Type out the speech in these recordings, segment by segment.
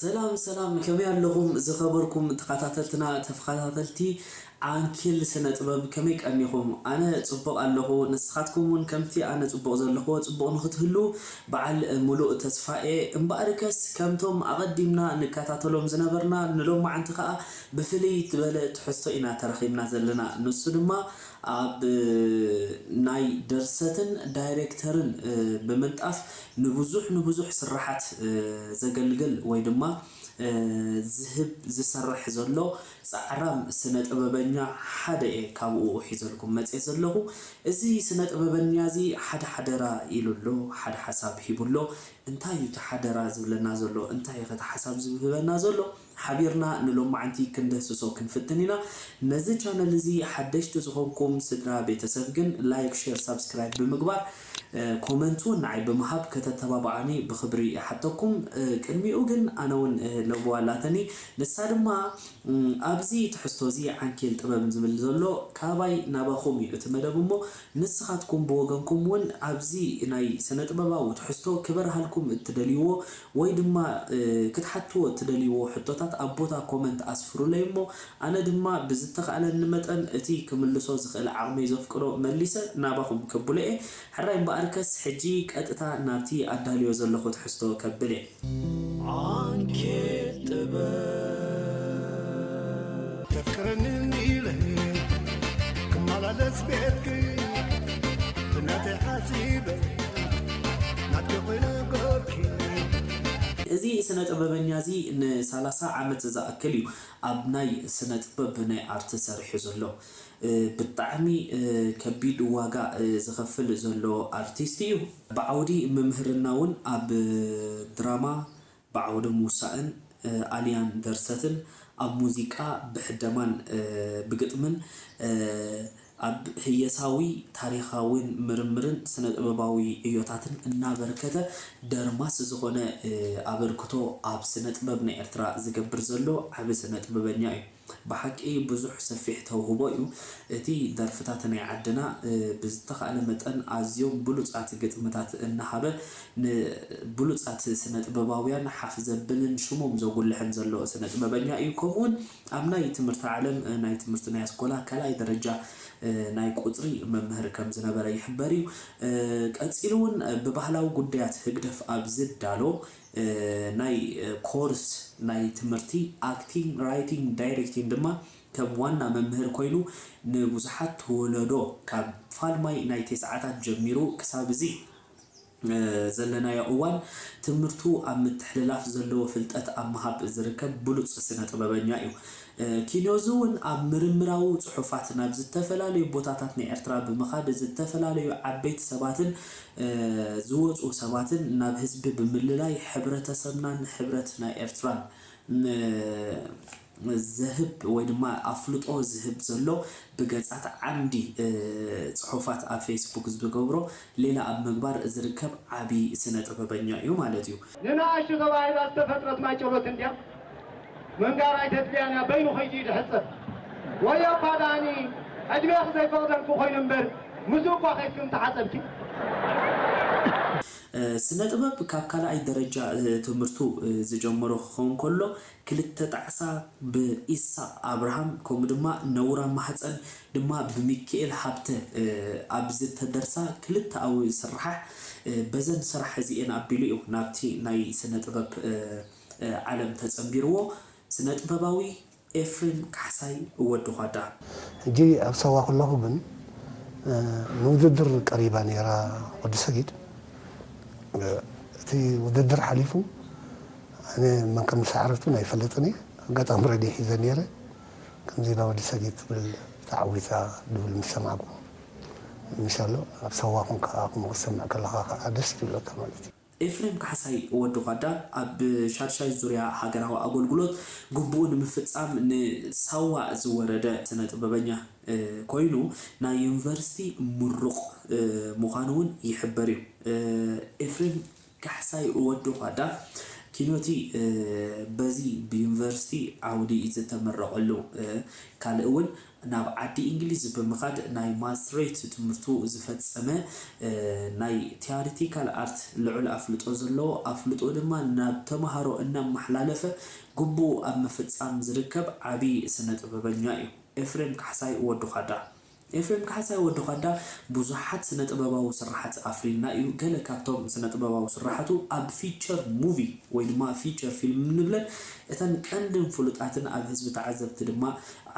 ሰላም ሰላም ከመይ ኣለኹም ዝኸበርኩም ተኻታተልትና ተፍኻታተልቲ ዓንኪል ስነ ጥበብ ከመይ ቀኒኹም ኣነ ጽቡቕ ኣለኹ ንስኻትኩም ውን ከምቲ ኣነ ጽቡቕ ዘለኹዎ ጽቡቕ ንኽትህልዉ በዓል ምሉእ ተስፋ እየ እምበኣርከስ ከምቶም ኣቐዲምና ንካታተሎም ዝነበርና ንሎማዓንቲ ከኣ ብፍልይ ትበለ ትሕዝቶ ኢና ተረኺብና ዘለና ንሱ ድማ ኣብ ናይ ድርሰትን ዳይረክተርን ብምንጣፍ ንብዙሕ ንብዙሕ ስርሓት ዘገልግል ወይ ድማ ዝህብ ዝሰርሕ ዘሎ ጻዕራም ስነ ጥበበኛ ሓደ እየ ካብኡ ሒዘልኩም መጼ ዘለኹ እዚ ስነ ጥበበኛ እዚ ሓደ ሓደራ ኢሉ ኣሎ ሓደ ሓሳብ ሂቡ ኣሎ እንታይ እዩ እቲ ሓደራ ዝብለና ዘሎ እንታይ እዩኸ እቲ ሓሳብ ዝህበና ዘሎ ሓቢርና ንሎማዕንቲ ክንድህስሶ ክንፍትን ኢና ነዚ ቻነል እዚ ሓደሽቲ ዝኮንኩም ስድራ ቤተሰብ ግን ላይክ ሸር ሳብስክራይብ ብምግባር ኮመንት ውን ንዓይ ብምሃብ ከተተባብዓኒ ብክብሪ ይሓተኩም ቅድሚኡ ግን ኣነ ውን ለበዋ ኣላተኒ ንሳ ድማ ኣብዚ ትሕዝቶ እዚ ዓንኬል ጥበብ ዝብል ዘሎ ካባይ ናባኩም እዩ እቲ መደብ እሞ ንስካትኩም ብወገንኩም ውን ኣብዚ ናይ ስነጥበባዊ ትሕዝቶ ክበርሃልኩም እትደልይዎ ወይ ድማ ክትሓትዎ እትደልይዎ ሕቶታት ኣብ ቦታ ኮመንት ኣስፍሩለይ እሞ ኣነ ድማ ብዝተኻእለኒ መጠን እቲ ክምልሶ ዝኽእል ዓቕመይ ዘፍቅዶ መሊሰ ናባኹም ከብሎ እየ። ሕራይ እምበኣርከስ ሕጂ ቀጥታ ናብቲ ኣዳልዮ ዘለኹ ትሕዝቶ ከብል እየ። ዓንኬል ጥበብ! እዚ ስነ-ጥበበኛ እዚ ንሳላሳ ዓመት ዝኣክል እዩ ኣብ ናይ ስነ-ጥበብ ናይ ኣርት ሰሪሑ ዘሎ። ብጣዕሚ ከቢድ ዋጋ ዝኸፍል ዘሎ ኣርቲስት እዩ። ብዓውዲ ምምህርና እውን ኣብ ድራማ፣ ብዓውደ ምውሳእን ኣልያን ደርሰትን፣ ኣብ ሙዚቃ ብሕደማን ብግጥምን፣ ኣብ ህየሳዊ ታሪኻዊን ምርምርን ስነ-ጥበባዊ ዕዮታትን እናበርከተ ደርማስ ዝኾነ ኣበርክቶ ኣብ ስነ-ጥበብ ናይ ኤርትራ ዝገብር ዘሎ ዓቢ ስነ-ጥበበኛ'ዩ። ብሓቂ ብዙሕ ሰፊሕ ተውህቦ እዩ እቲ ደርፍታት ናይ ዓድና ብዝተኻእለ መጠን ኣዝዮም ብሉጻት ግጥምታት እናሃበ ን ብሉጻት ስነጥበባውያን ሓፍ ዘብልን ሽሞም ዘጉልሕን ዘሎ ስነጥበበኛ እዩ ከምኡውን ኣብ ናይ ትምህርቲ ዓለም ናይ ትምህርቲ ናይ ኣስኮላ ካልኣይ ደረጃ ናይ ቁጽሪ መምህር ከም ዝነበረ ይሕበር እዩ ቀጺሉውን ብባህላዊ ጉዳያት ህግደፍ ኣብ ዝዳሎ ናይ ኮርስ ናይ ትምህርቲ ኣክቲንግ፣ ራይቲንግ፣ ዳይሬክቲንግ ድማ ከም ዋና መምህር ኮይኑ ንብዙሓት ወለዶ ካብ ፋልማይ ናይ ቴስዓታት ጀሚሩ ክሳብ እዚ ዘለናዮ እዋን ትምህርቱ ኣብ ምትሕልላፍ ዘለዎ ፍልጠት ኣብ ምሃብ ዝርከብ ብሉጽ ስነ ጥበበኛ እዩ። ኪኖዝ እውን ኣብ ምርምራዊ ጽሑፋት ናብ ዝተፈላለዩ ቦታታት ናይ ኤርትራ ብምኻድ ዝተፈላለዩ ዓበይቲ ሰባትን ዝወጹ ሰባትን ናብ ህዝቢ ብምልላይ ሕብረተሰብናን ሕብረት ናይ ኤርትራን ዘህብ ወይ ድማ ኣፍልጦ ዝህብ ዘሎ ብገጻት ዓምዲ ጽሑፋት ኣብ ፌስቡክ ዝገብሮ ሌላ ኣብ ምግባር ዝርከብ ዓቢ ስነ ጥበበኛ እዩ ማለት እዩ። ንንኣሽቱ ተባሂላ ዝተፈጥረት ማይጨሎት እንድያ ምንጋር ኣይተድልያን እያ በይኑ ከይዱ እዩ ዝሕጸብ ወዮኳ ዳኣኒ ዕድሜኺ ዘይፈቕደልኪ ኮይኑ እምበር ምስኡ እኳ ከይድኪ ምተሓጸብኪ። ስነጥበብ ካብ ካልኣይ ደረጃ ትምህርቱ ዝጀመሮ ክኸውን ከሎ ክልተ ጣዕሳ ብ ኢሳቅ ኣብርሃም ከምኡ ድማ ነውራም ማህጸን ድማ ብ ሚኪኤል ሃብተ ኣብ ዝተደርሳ ክልተኣዊ ስርሓሕ በዘን ስራሕ እዚኤን ኣቢሉ እዩ ናብቲ ናይ ስነ ጥበብ ዓለም ተጸንቢርዎ ስነጥበባዊ ኤፍሬም ካሕሳይ ወዲ ዃዳ። ሕጂ ኣብ ሳዋ ከለኹ ግን ንውድድር ቀሪባ ኔራ ወዲ ሰጊድ እቲ ውድድር ሓሊፉ ኣነ መን ከም ዝሰዓረት ውን ኣይፈልጥን እየ ኣጋጣሚ ረድዮ ሒዘ ነይረ ከምዚ ኢላ ወዲ ሰዲድ ትብል ተዓዊታ ድብል ምስ ሰማዕኩ ምሻሎ ኣብ ሳዋ ኮንካ ከምኡ ክትሰምዕ ከለኻ ከኣ ደስ ትብለካ ማለት እዩ። ኤፍሬም ካሕሳይ፣ ወዲ ዃዳ፣ ኣብ ሻድሻይ ዙርያ ሃገራዊ ኣጎልጉሎት ግቡኡ ንምፍጻም ንሳዋ ዝወረደ ስነ-ጥበበኛ ኮይኑ፣ ናይ ዩኒቨርሲቲ ምሩቕ ምዃኑ ውን ይሕበር እዩ። ኤፍሬም ካሕሳይ ወዲ ዃዳ ኪኖቲ በዚ ብዩኒቨርሲቲ ዓውዲ ዝተመረቐሉ ካልእ ውን ናብ ዓዲ ኢንግሊዝ ብምኻድ ናይ ማስትሬት ትምህርቱ ዝፈጸመ ናይ ቲያሪቲካል ኣርት ልዑል ኣፍልጦ ዘለዎ ኣፍልጦኡ ድማ ናብ ተማሃሮ እናማሓላለፈ ግቡኡ ኣብ ምፍጻም ዝርከብ ዓቢ ስነ ጥበበኛ እዩ ኤፍሬም ካሕሳይ ወዲ ዃዳ። ኤፍሬም ካሕሳይ ወዲ ዃዳ ብዙሓት ስነ-ጥበባዊ ስርሓት ኣፍሪዩልና እዩ። ገለ ካብቶም ስነ-ጥበባዊ ስርሓቱ ኣብ ፊቸር ሙቪ ወይ ድማ ፊቸር ፊልም እንብለን እተን ቀንድን ፍሉጣትን ኣብ ህዝቢ ተዓዘብቲ ድማ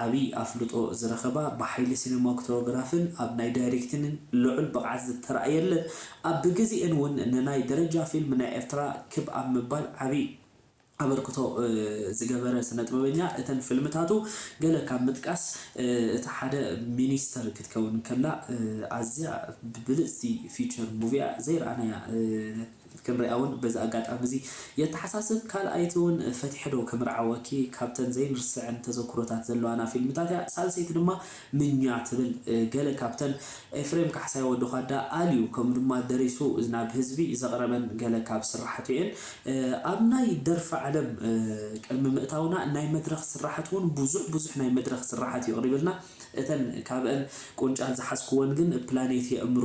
ዓብዪ ኣፍልጦ ዝረኸባ ብሓይሊ ሲነማክቶግራፍን ኣብ ናይ ዳይሬክቲንን ልዑል ብቕዓት ዝተራእየለን ኣብ ብግዜኤን እውን ንናይ ደረጃ ፊልም ናይ ኤርትራ ክብ ኣብ ምባል ዓብዪ ኣበርክቶ ዝገበረ ስነጥበበኛ እተን ፍልምታቱ ገለ ካብ ምጥቃስ እታ ሓደ ሚኒስተር ክትከውን ከላ ኣዝያ ብልጽቲ ፊቸር ሙቪ'ያ ዘይረኣናያ ክንሪኣውን በዚ ኣጋጣሚ'ዚ የተሓሳስብ ካልኣይቲውን ፈቲሐ'ዶ ክምርዓወኪ ካብተን ዘይንርስዐን ተዘኩሮታት ዘለዋና ፊልምታት'ያ ሳልሰይቲ ድማ ምኛ ትብል ገለ ካብተን ኤፍሬም ካሕሳይ ወዲ ዃዳ ኣልዩ ከምኡ ድማ ደሪሱ ናብ ህዝቢ ዘቕረበን ገለ ካብ ስራሓቱ እየን። ኣብ ናይ ደርፊ ዓለም ቅድሚ ምእታውና ናይ መድረኽ ስራሓት እውን ብዙሕ ብዙሕ ናይ መድረኽ ስራሓት የቕሪብልና። እተን ካብእን ቁንጫል ዝሓዝክወን ግን ፕላኔት የእምሮ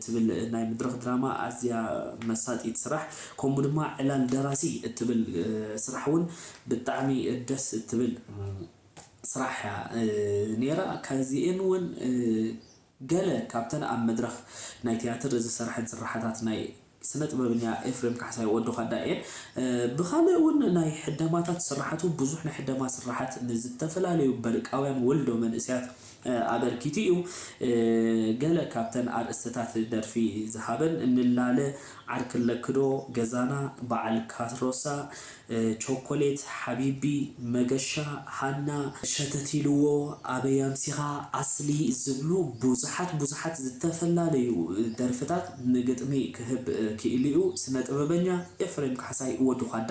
ትብል ናይ ምድረኽ ድራማ ኣዝያ መሳጢት ስራሕ ከምኡ ድማ ዕላል ደራሲ እትብል ስራሕ እውን ብጣዕሚ ደስ እትብል ስራሕ እያ ነይራ። ካብዚኤን እውን ገለ ካብተን ኣብ መድረኽ ናይ ትያትር ዝሰርሐን ስርሓታት ናይ ስነጥበብኛ ኤፍሬም ካሕሳይ፣ ወዲ ዃዳ፣ እየን። ብኻልእ እውን ናይ ሕደማታት ስርሓቱ ብዙሕ ናይ ሕደማ ስርሓት ንዝተፈላለዩ በርቃውያን ወልዶ መንእሰያት፣ ኣበርኪቱ እዩ። ገለ ካብተን ኣርእስትታት ደርፊ ዝሃበን፣ ንላለ፣ ዓርኪ ኣለኪዶ፣ ገዛና፣ በዓል ካሮሳ፣ ቾኮሌት፣ ሓቢቢ፣ መገሻ፣ ሃና፣ ሸተት ኢልዎ፣ ኣበይ ኣምሲኻ፣ ኣስሊ ዝብሉ ብዙሓት ብዙሓት ዝተፈላለዩ ደርፍታት ንግጥሚ ክህብ ክኢሉ'ዩ ስነ ጥበበኛ ኤፍሬም ካሕሳይ፣ ወዲ ዃዳ።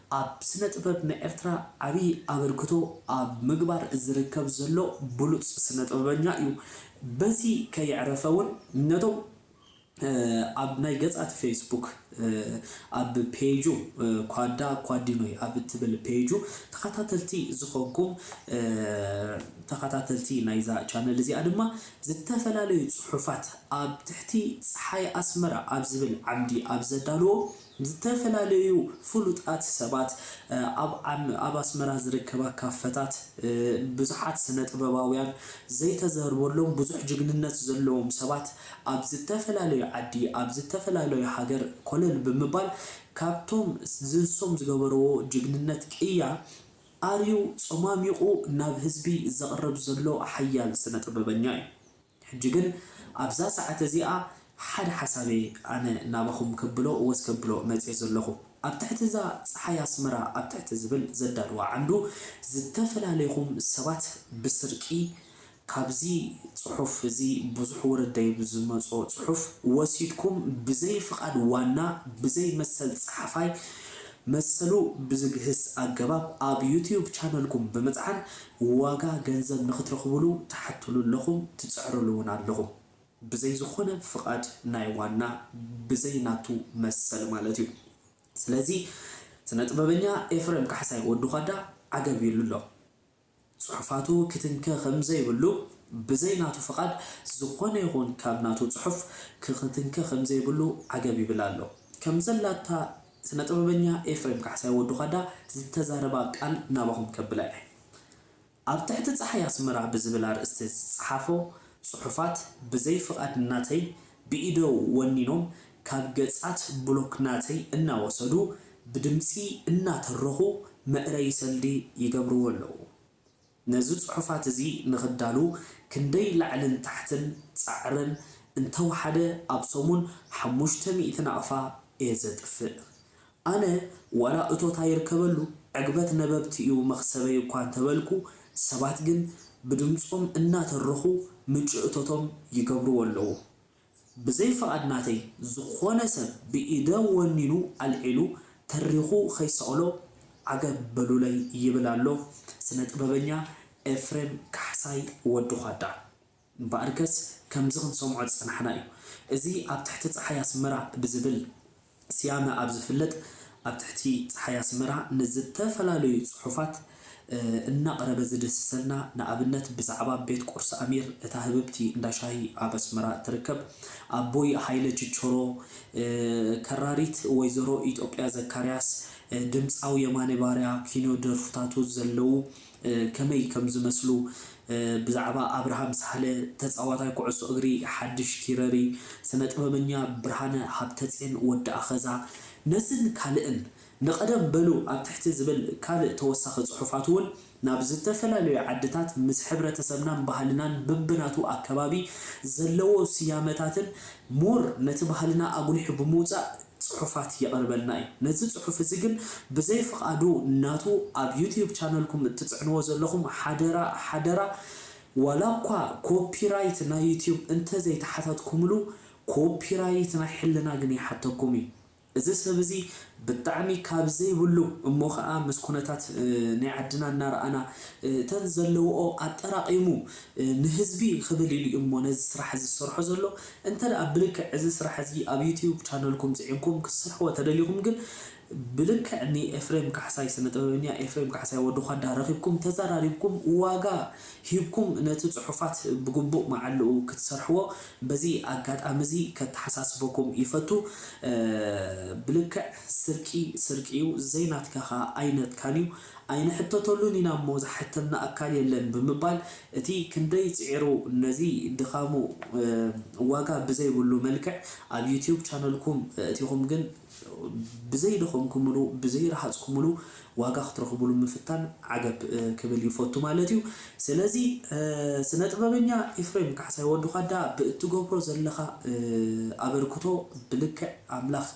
ኣብ ስነ ጥበብ ናይ ኤርትራ ዓብይ ኣበርክቶ ኣብ ምግባር ዝርከብ ዘሎ ብሉጽ ስነ ጥበበኛ እዩ በዚ ከየዕረፈ ውን ነቶም ኣብ ናይ ገጻት ፌስቡክ ኣብ ፔጁ ኳዳ ኳዲኖይ ኣብ እትብል ፔጁ ተኸታተልቲ ዝኾንኩም ተኸታተልቲ ናይዛ ቻነል እዚኣ ድማ ዝተፈላለዩ ጽሑፋት ኣብ ትሕቲ ጸሓይ ኣስመራ ኣብ ዝብል ዓምዲ ኣብ ዘዳልዎ ዝተፈላለዩ ፍሉጣት ሰባት፣ ኣብ ኣብ ኣስመራ ዝርከባ ካፈታት ብዙሓት ስነጥበባውያን፣ ዘይተዘርበሎም ብዙሕ ጅግንነት ዘለዎም ሰባት ኣብ ዝተፈላለዩ ዓዲ ኣብ ዝተፈላለዩ ሃገር ኮለል ብምባል ካብቶም ዝንሶም ዝገበርዎ ጅግንነት ቅያ ኣርዩ ጸማሚቑ ናብ ህዝቢ ዘቕርብ ዘሎ ሓያል ስነጥበበኛ እዩ። ሕጂ ግን ኣብዛ ሰዓት እዚኣ ሓደ ሓሳብ'የ ኣነ ናባኹም ከብሎ ወስ ከብሎ መጽየ ዘለኹ። ኣብ ትሕቲ እዛ ጸሓይ ኣስመራ ኣብ ትሕቲ ዝብል ዘዳልዋ ዓንዱ ዝተፈላለይኹም ሰባት ብስርቂ ካብዚ ጽሑፍ እዚ ብዙሕ ወረደይብ ዝመጾ ጽሑፍ ወሲድኩም ብዘይ ፍቓድ ዋና ብዘይ መሰል ጸሓፋይ መሰሉ ብዝግህስ ኣገባብ ኣብ ዩቱዩብ ቻነልኩም ብምጽዓን ዋጋ ገንዘብ ንክትረኽቡሉ ትሓቱሉ ኣለኹም ትጽዕሩሉ ውን ኣለኹም። ብዘይ ዝኾነ ፍቓድ ናይ ዋና ብዘይ ናቱ መሰል ማለት እዩ። ስለዚ ስነጥበበኛ ኤፍረም ካሕሳይ፣ ወዲ ዃዳ፣ ዓገብ ኢሉ ኣሎ። ጽሑፋቱ ክትንከ ከምዘይብሉ ብዘይ ናቱ ፍቓድ ዝኾነ ይኹን ካብ ናቱ ጽሑፍ ክክትንከ ከምዘይብሉ ዓገብ ይብል ኣሎ። ከምዘላታ ስነ ጥበበኛ ኤፍሬም ካሕሳይ ወዲ ዃዳ ዝተዛረባ ቃል ናባኹም ከብላ እየ። ኣብ ትሕቲ ጸሓይ ኣስመራ ብዝብል ኣርእስቲ ዝጸሓፎ ጽሑፋት ብዘይ ፍቓድ ናተይ ብኢደ ወኒኖም ካብ ገጻት ብሎክ ናተይ እናወሰዱ ብድምጺ እናተረኹ መእረዪ ሰልዲ ይገብርዎ ኣለዉ። ነዚ ጽሑፋት እዚ ንኽዳሉ ክንደይ ላዕልን ታሕትን ጻዕርን እንተወሓደ ኣብ ሰሙን ሓሙሽተ ሚእቲ ናቕፋ እየ ዘጥፍእ። ኣነ ዋላ እቶት ኣይርከበሉ ዕግበት ነበብቲ እዩ መኽሰበይ እኳ እንተበልኩ ሰባት ግን ብድምጾም እናተረኹ ምንጪ እቶቶም ይገብርዎ ኣለዉ። ብዘይ ፍቓድ ናተይ ዝኾነ ሰብ ብኢደ ወኒኑ ኣልዒሉ ተሪኹ ከይሰቕሎ ዓገብ በሉለይ ይብል ኣሎ ስነ ጥበበኛ ኤፍሬም ካሕሳይ ወዲ ዃዳ። እምበኣርከስ ከምዚ ክንሰምዖ ዝጸናሕና እዩ። እዚ ኣብ ትሕቲ ጸሓይ ኣስመራ ብዝብል። ስያመ ኣብ ዝፍለጥ ኣብ ትሕቲ ጸሓይ ኣስመራ ንዝተፈላለዩ ጽሑፋት እናቕረበ ዝድህስሰልና ንኣብነት ብዛዕባ ቤት ቁርሲ ኣሚር እታ ህብብቲ እንዳ ሻሂ ኣብ ኣስመራ እትርከብ ኣቦይ ሃይለ ችቾሮ ከራሪት ወይዘሮ ኢጦጵያ ዘካርያስ ድምጻዊ የማነ ባርያ ኪኖ ደርፍታቱ ዘለዉ ከመይ ከም ዝመስሉ ብዛዕባ ኣብርሃም ሳህለ፣ ተጻዋታይ ኩዕሶ እግሪ ሓድሽ ኪረሪ፣ ስነ-ጥበበኛ ብርሃነ ሃብተጼን ወዲ ኣኸዛ፣ ነዝን ካልእን ንቐደም በሉ ኣብ ትሕቲ ዝብል ካልእ ተወሳኺ ጽሑፋት'ውን ናብ ዝተፈላለዩ ዓድታት ምስ ሕብረተሰብናን ባህልናን በብናቱ ኣከባቢ ዘለዎ ስያመታትን ምሁር ነቲ ባህልና ኣጉሊሑ ብምውጻእ ጽሑፋት የቕርበልና እዩ። ነዚ ጽሑፍ እዚ ግን ብዘይ ፍቓዱ ናቱ ኣብ ዩትዩብ ቻነልኩም እትጽዕንዎ ዘለኹም ሓደራ ሓደራ ዋላኳ ኮፒራይት ናይ ዩትዩብ እንተዘይተሓታትኩምሉ ኮፒራይት ናይ ሕልና ግን ይሓተኩም እዩ። እዚ ሰብ እዚ ብጣዕሚ ካብ ዘይብሉ እሞ ከኣ ምስ ኩነታት ናይ ዓድና እናረኣና እተን ዘለውኦ ኣጠራቒሙ ንህዝቢ ክብል ኢሉ እዩሞ ነዚ ስራሕ እዚ ዝሰርሖ ዘሎ እንተ ብልክዕ እዚ ስራሕ እዚ ኣብ ዩቱዩብ ቻነልኩም ጺዒንኩም ክትስርሕዎ ተደሊኹም ግን ብልክዕ ንኤፍሬም ካሕሳይ ስነጥበበኛ ኤፍሬም ካሕሳይ ወዲ ዃዳ ረኺብኩም ተዛራሪብኩም ዋጋ ሂብኩም ነቲ ጽሑፋት ብግቡእ መዓልኡ ክትሰርሕዎ በዚ ኣጋጣሚ'ዚ ከተሓሳስበኩም ይፈቱ፣ ብልክዕ ስርቂ ስርቂ'ዩ፣ ዘይናትካ ከኣ ኣይነትካን'ዩ፣ ኣይንሕተተሉን ኢና እሞ ዝሓተና ኣካል የለን ብምባል እቲ ክንደይ ጽዒሩ ነዚ ድኻሙ ዋጋ ብዘይብሉ መልክዕ ኣብ ዩትዩብ ቻነልኩም እእቲኹም ግን ብዘይደኸምኩምሉ ብዘይረሃፅኩምሉ ዋጋ ክትረኽቡሉ ምፍታን ዓገብ ክብል ይፈቱ ማለት እዩ። ስለዚ ስነ ጥበበኛ ኤፍሬም ካሕሳይ ወዲ ዃዳ ብእትገብሮ ዘለኻ ኣበርክቶ ብልክዕ ኣምላኽ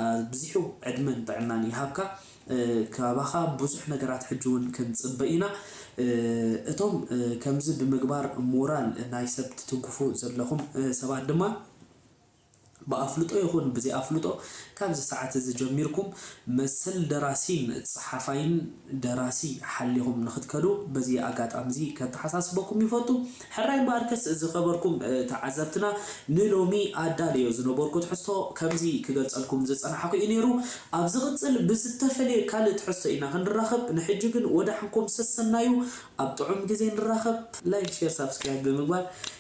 ኣብዚሑ ዕድመን ጥዕናን ይሃብካ። ካባኻ ብዙሕ ነገራት ሕጂ እውን ክንፅበ ኢና። እቶም ከምዚ ብምግባር ሞራል ናይ ሰብ ትትንክፉ ዘለኹም ሰባት ድማ፣ ብኣፍልጦ ይኹን ብዘይኣፍልጦ ካብዚ ሰዓት እዚ ጀሚርኩም መሰል ደራሲን ጸሓፋይን ደራሲ ሓሊኹም ንኽትከዱ በዚ ኣጋጣሚ'ዚ ከተሓሳስበኩም ይፈቱ። ሕራይ እምበኣርከስ ዝኸበርኩም ተዓዘብትና ንሎሚ ኣዳልዮ ዝነበርኩ ትሕዝቶ ከምዚ ክገልጸልኩም ዝጸናሕኩ እዩ ነይሩ። ኣብ ዝቕጽል ብዝተፈልየ ካልእ ትሕዝቶ ኢና ክንራኸብ ንሕጂ ግን ወዳሕንኩም ሰሰናዩ ኣብ ጥዑም ግዜ ንራኸብ። ላይክ ሼር ሳብስክራይብ ብምግባር